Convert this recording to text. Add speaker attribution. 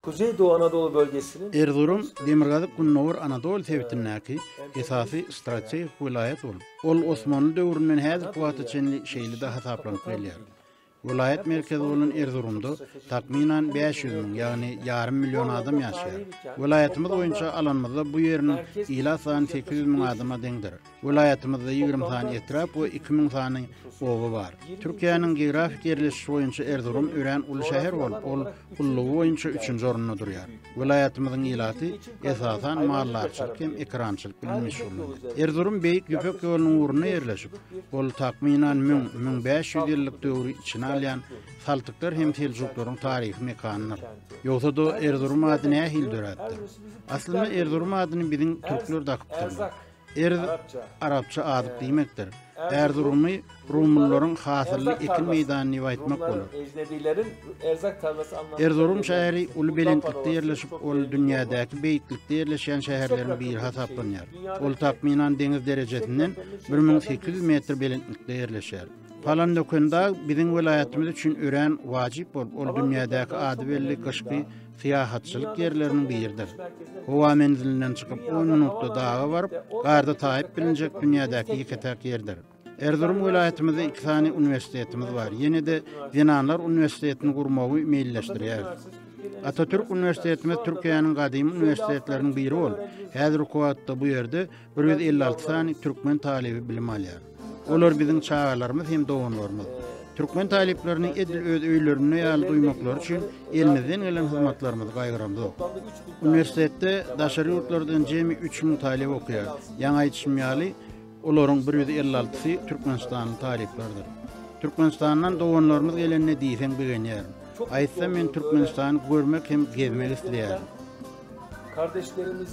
Speaker 1: Güzeýdow Anadolu bölgesiniň Erzurum
Speaker 2: Demirgazyk-Gündogar Anadol sebitindäki esasy strategik welaýat bolup, ol Osmanly döwründen häzirki wagta çenli şeýle-de hasaplanyp gelýär. Welaýat merkezi bolan Erzurumda takmynan bäş ýüz müň, ýagny ýarym million adam ýaşaýar. Welaýatymyz boýunça alanymyzda bu ýeriniň ilat sany sekiz ýüz müň adama deňdir. Welaýatymyzda ýigrimi sany etrap we iki müň sany oba bar. Türkiýäniň geografik ýerleşişi boýunça Erzurum örän uly şäher bolup, ol ullugy boýunça üçünji orunda durýar. Welaýatymyzyň ilaty, esasan, maldarçylyk hem ekerançylyk bilen meşgullanýar. Erzurum Beýik Ýüpek ýolunyň ugrunda ýerleşip, ol takmynan müň, müň bäş ýüz ýyllyk döwri içine alýan Saltyklar hem Seljuklaryň taryhy mekanydyr. Ýogsa-da, Erzurum ady nähili döräpdir? Aslynda, Erzurum adyny biziň türkler dakypdyrlar. Erz, arapça azyk diýmekdir. Erzurumy rumylylaryň hasylly ekin meýdany diýip aýtmak bolar.
Speaker 1: Erzurum şäheri uly
Speaker 2: belentlikde ýerleşip, ol dünýädäki beýiklikde ýerleşýän şäherleriň biri hasaplanýar. Ol takmynan deňiz derejesinden bir müň sekiz ýüz metr belentlikde ýerleşýär. Palandökendag biziň welaýatymyz üçin örän wajyp bolup, ol dünýädäki ady belli gyşky syýahatçylyk ýerleriniň biridir. Howa menzilinden çykyp on minutda daga baryp, garda taýyp bilinjek dünýädäki ýeke-täk ýerdir. Erzurum welaýatymyzda iki sany uniwersitetimiz bar, ýene-de Zenanlar uniwersitetini gurmagy meýilleşdirýäris. Atatürk uniwersitetimiz Türkiýäniň gadymy uniwersitetleriniň biri bolup, häzirki wagtda bu ýerde Bir ýüz elli alty sany türkmen talyby bilim alýar. Olar biziň çagalarymyz hem doganlarymyz. Türkmen talyplaryny edil öz öýlerinde ýaly duýmaklary üçin elimizden gelen hyzmatlarymyzy gaýgyramzok. Uniwersitetde daşary ýurtlardan jemi üç müň talyp okaýar. Ýaňy aýdyşym ýaly, olaryň bir ýüz elli altysy türkmenistanly talyplardyr. Türkmenistandan doganlarymyz gelende diýseň begenýärin. Aýtsam men Türkmenistany görmek hem gezmek isleýärin.
Speaker 1: Kardeşlerimiz